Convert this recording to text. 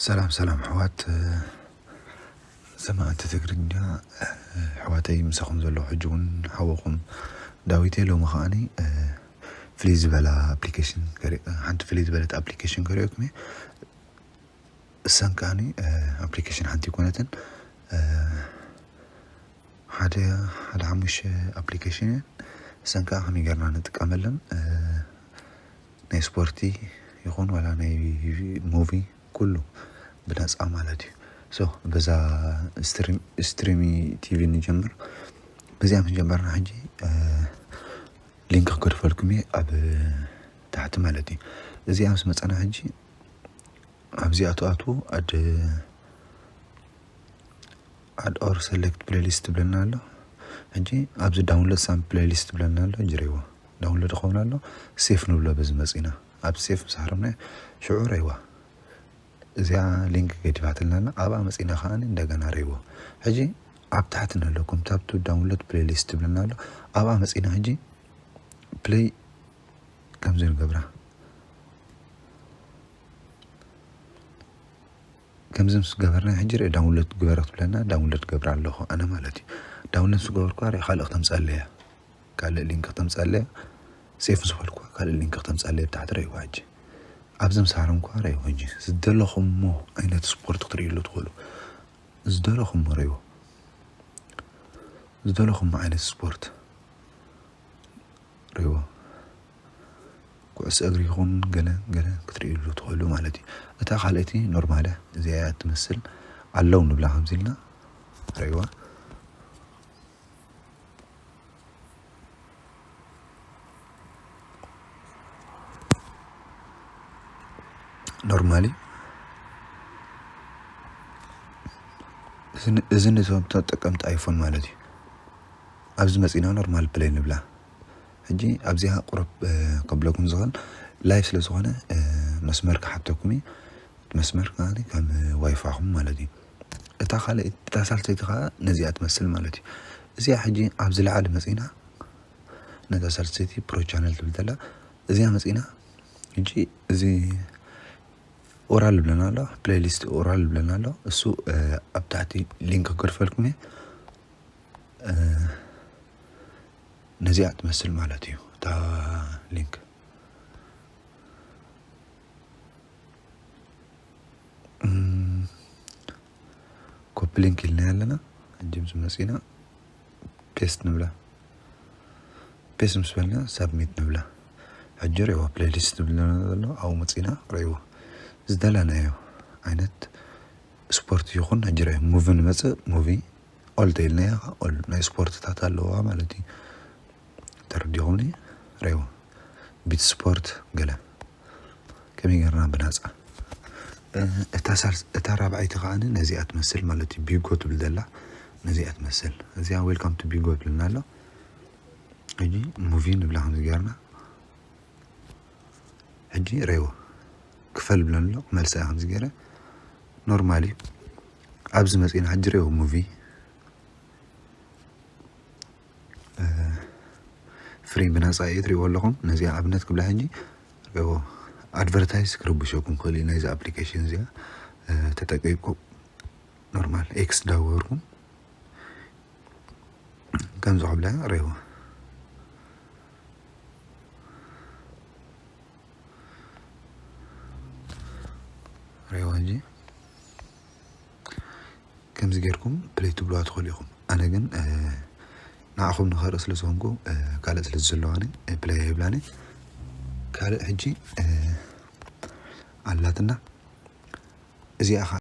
ሰላም ሰላም ኣሕዋት ሰማዕቲ ትግርኛ ኣሕዋተይ ምሳኹም ዘለኹ ሕጂ እውን ሓወኹም ዳዊት እየ ሎሚ ከዓኒ ፍልይ ዝበላ ኣፕሊኬሽን ሓንቲ ፍልይ ዝበለት ኣፕሊኬሽን ከሪኦኩም እየ እሰን ከኣኒ ኣፕሊኬሽን ሓንቲ ኣይኮነትን ሓደ ሓደ ሓሙሽተ ኣፕሊኬሽን እየን እሰን ከዓ ከመይ ጌርና ንጥቀመለን ናይ ስፖርቲ ይኹን ዋላ ናይ ሙቪ ኩሉ ብነፃ ማለት እዩ ሶ በዛ ስትሪም ስትሪሚ ቲቪ ንጀምር በዚኣ ምስ ጀመርና ሕጂ ሊንክ ክገድፈልኩም እየ ኣብ ታሕቲ ማለት እዩ እዚኣ ምስ መፃና ሕጂ ኣብዚ ኣቱ ኣቱ ኣድ ኣድ ኦር ሰሌክት ፕሌሊስት ትብለና ኣሎ ሕጂ ኣብዚ ዳውንሎድ ሳም ፕሌሊስት ትብለና ኣሎ ጅሬዎ ዳውንሎድ ይኸውን ኣሎ ሴፍ ንብሎ በዚ መጺና ኣብ ሴፍ ምስ ሃረምናዮ ሽዑ ረይዋ እዚኣ ሊንክ ገዲፋትልና ኣላ ኣብኣ መጺና ከኣ እንደገና ረይዎ ሕጂ ኣብ ታሕቲ ንለኩም ታብቱ ዳውንሎድ ፕሌሊስት ትብለና ኣሎ ኣብኣ መጺና ሕጂ ፕሌይ ከምዚ ንገብራ ከምዚ ምስ ገበርና ሕጂ ርእ ዳውንሎድ ግበረ ክትብለና ዳውንሎድ ገብራ ኣለኹ ኣነ ማለት እዩ ዳውንሎድ ምስ ገበርኩ ርእ ካልእ ክተምፀለ እያ ካልእ ሊንክ ክተምፀለ እያ ሴፍ ምስ በልኩ ካልእ ሊንክ ክተምፀለ እያ ብታሕቲ ረእይዋ ሕጂ ኣብዚ ምስ ሃረምኳ ረእይዎ ሕጂ ዝደለኹሞ ዓይነት ስፖርት ክትርእይሉ ትኽእሉ ዝደለኹሞ ረእይዎ ዝደለኹሞ ዓይነት ስፖርት ሪዎ ኩዕሶ እግሪ ይኹን ገለ ገለ ክትርእይሉ ትኽእሉ ማለት እዩ። እታ ካልኣይቲ ኖርማለ እዚኣ እያ ትመስል ኣለው ንብላ ከምዚ ኢልና ሪእዋ ኖርማሊ እዚ ንተጠቀምቲ ኣይፎን ማለት እዩ። ኣብዚ መጺና ኖርማል ፕለይ ንብላ ሕጂ ኣብዚኣ ቁሩብ ከብለኩም ዝክእል ላይቭ ስለ ዝኮነ መስመር ክሓተኩም እዩ መስመር ከኣ ከም ዋይፋኩም ማለት እዩ እታ ካልኣይቲ እታ ሳልሰይቲ ከኣ ነዚኣ ትመስል ማለት እዩ እዚኣ ሕጂ ኣብ ዝለዓለ መጺና ነታ ሳልሰይቲ ፕሮ ቻነል ትብል ዘላ እዚኣ መጺና ሕጂ እዚ ኦራል ብለና ኣሎ ፕሌይሊስት ኦራል ብለና ኣሎ እሱ ኣብ ታሕቲ ሊንክ ክገርፈልኩም እየ ነዚኣ ትመስል ማለት እዩ እታ ሊንክ ኮፒ ሊንክ ኢልና ኣለና እጅም ዝመፅና ፔስት ንብላ ፔስት ምስ በልና ሳብሚት ንብላ ሕጂ ርእይዎ ፕሌሊስት ዝብለና ዘሎ ኣብኡ መፅና ርእይዎ ዝደለናዮ ዓይነት ስፖርት ይኹን ናይጀርያ ሙቪ ንመፅእ ሙቪ ኦል ተይልና እያ ከዓ ኦል ናይ ስፖርትታት ኣለዋ ማለት እዩ ተረዲኹምኒ ሬዎ ቢት ስፖርት ገለ ከመይ ገርና ብናፃ እታ ራብዓይቲ ከዓ ነዚኣ ትመስል ማለት እዩ ቢጎ ትብል ዘላ ነዚኣ ትመስል እዚኣ ዌልካም ቱ ቢጎ ትብልና ኣሎ ሕጂ ሙቪ ንብላ ከምዚ ገርና ሕጂ ሬዎ ክፈል ብለኒ ኣሎ ክመልሳ እየ ከምዚ ገይረ ኖርማል እዩ ኣብዚ መፂና ሕጂ ሬዎ ሙቪ ፍሪ ብነፃ እዩ ትሪእዎ ኣለኹም ነዚኣ ኣብነት ክብላ ሕጂ ሬዎ ኣድቨርታይዝ ክርብሸኩም ክእል እዩ ናይዚ ኣፕሊኬሽን እዚኣ ተጠቂብኩም ኖርማል ኤክስ ዳወርኩም ከምዚ ክብላ ሬዎ ሬዋ እንጂ ከምዚ ጌርኩም ፕለይ ትብልዋ ትኽእሉ ኢኹም ኣነ ግን ንዓኹም ንኸርኢ ስለ ዝኾንኩ ካልእ ስለ ዝዘለዋኒ ፕለይ ይብላኒ ካልእ ሕጂ ኣላትና እዚኣ ኸ